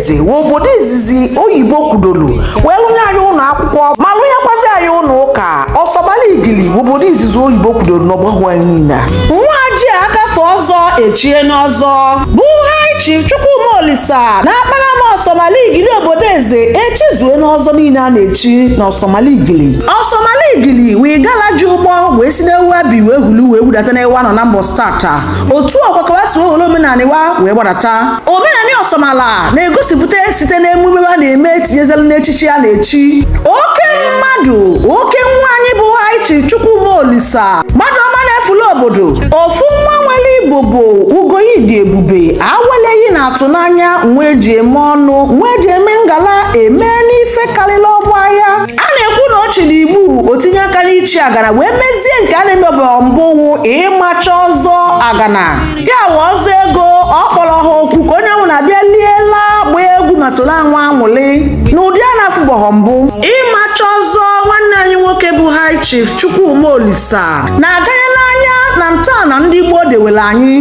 eze wụ obodo izizi oyibo kwudoro wee lụnye anyị ụlọ akwụkwọ ma lụnyekwazi anyị ụlọ ụka ọsọmala igili bụ obodo izizi oyibo kwudoro n'ọgbahụ anyị niile a. nwa ji akafe ọzọ echie n'ọzọ bụ high chief chukwuma olisa na akpanam ọsọmala igili obodo eze echizue n'ọzọ niile a na-echi na ọsọmala igili ọsọmala igili wụ igala ji ụgbọ wee si n'ebe e bi wee hulu wee wudata n'ebe a nọ n'anambra state otu ọ kwa ka wa si wee were omenanị wa wee gbadata omenanị ọsọmala na-egosipụta site n'emume a na-eme etinyezelu n'echichi a na-echi oke mmadụ oke nwa anyị bụ high chief chukwuma olisa mmadụ ọma na-efula obodo ofu nwa nwere igbo bụ ugoyi dị ebube aweleghị na atụ n'anya nwa eji eme ọnụ nwa eji eme ngala eme n'ife karịrị ọgbọ ya a na-ekwu na ọchị na igbu otinye aka n'ichi agana wee mezie nke a na-emebeghị mbụ wụ ịmacha ọzọ agana ya wụ ọzọ ego ọ kpọrọ ọha oku ka onye ọwụna bịa lie laa gbaa egwu ma soro anwụ anwụlị na ụdị a na-afụbọghọ mbụ ịmacha ọzọ nwanne anyị nwoke bụ high chief chukwuma olisa na-aganye n'anya na ntọala ndị gboo dewere anyị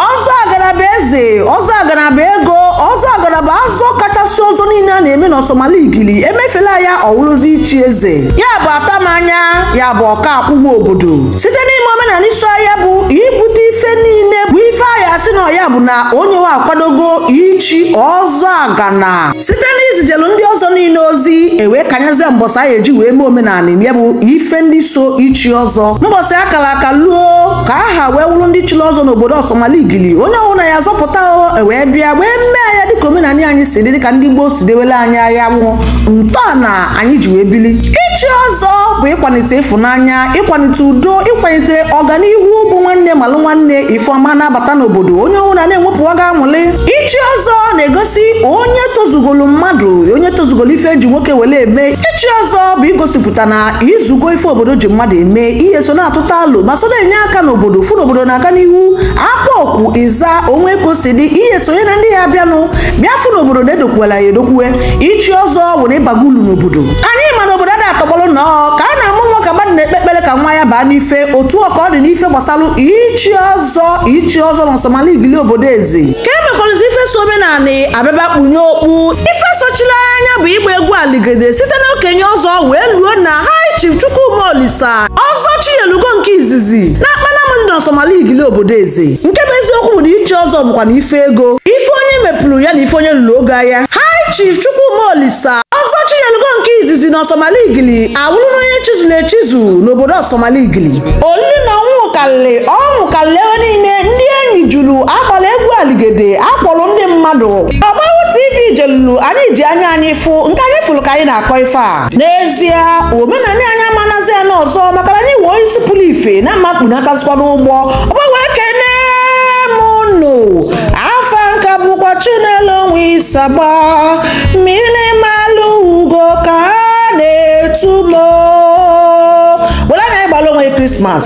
ọzọ agana bụ eze ọzọ agana bụ ego ọzọ agana bụ ọzọ kachasị ọzọ niile a na-eme n'ọsọmala igili emefela ya ọwụrụzi ichi eze ya bụ atamanya ya bụ ọka akwụgwọ obodo site n'ime omenanị so ya bụ ibute ife niile bụ ife ahịa si na ya bụ na onye wa akwadogo ichi ọzọ agana site n'izijelu ndị ọzọ niile ozi ewee kanyezie mbọsị a ya-eji wee mee omenanị ya bụ ife ndị so ichi ọzọ mbọsị akara aka luo ka aha wee wụrụ ndị chiri ọzọ n'obodo ọsọmala igili onye ọbụla ya azọpụta ewee bịa wee mee ya dịka omenanị anyị si dị dịka ndị gboo si dewele anyị ya wụ ntọala anyị ji wee bili ichi ọzọ bụ ịkwalite ịfụnanya ịkwalite udo ịkwalite ọganihu bụ nwanne malụ nwanne ife ọma na-abata n'obodo onye ọbụla na-enwepụ ọga anwụlị ichi ọzọ na-egosi onye tozugolu mmadụ onye tozugolu ife eji nwoke were eme ichi ọzọ bụ igosipụta na i zugo ife obodo ji mmadụ eme i ya-eso na-atụta alo ma so na-enye aka n'obodo fụ na obodo na-aga n'ihu akpọ oku ị za o nwe ka o si dị i ya-esonye na ndị ya-abịanụ bịa fụ na obodo na-edokwuela ya edokwue ichi ọzọ bụ na ị bago ulu n'obodo anyị ma na obodo ada atọgbọrọ nnọọ ka a na-amụ nwa ka mmadụ na-ekpe ekpere ka nwa ya baa n'ife otu ọ ka ọ dị n'ife gbasara ichi ọzọ ichi ọzọ na ọsọmala igili obodo eze ka e mekwarụzi ife so omenanị abịaba kpunye okpu ife sochiri anya bụ ịgba egwu aligede site na okenye ọzọ wee luo na high chief chukwuma olisa ọzọ chinyelugo nke izizi na akpanam dị n'ọsọmala igili obodo eze nke bụ eziokwu bụ na ichi ọzọ bụkwa na ife ego ife onye mepụrụ ya na ife onye lụrụ ogo ya high chief chukwuma olisa ọzọ chinyelugo nke izizi na ọsọmala igili awụrụ na onye chizuru echizu n'obodo ọsọmala igili olili na ọnwụnwụ karịrị ọnwụ karịrị ebe niile ndị Enyi julu agbala egwu aligede akpọrọ ndị mmadụ ọgbahụ tv jelulu anyị ji anya anyị fụ nke anyị fụlụ ka anyị na-akọ ife a n'ezie omenani anyị ama anazi ana ọzọ maka na anyị wee onye isi pụlụ ife na mma kpọnatazikwa n'ụgbọ ọgbahụ ekene m unu afa m ka bụkwa chinelo nwe isagba mmili malụ ugo ka a na-etu m were anya anyị gbala onwe krismas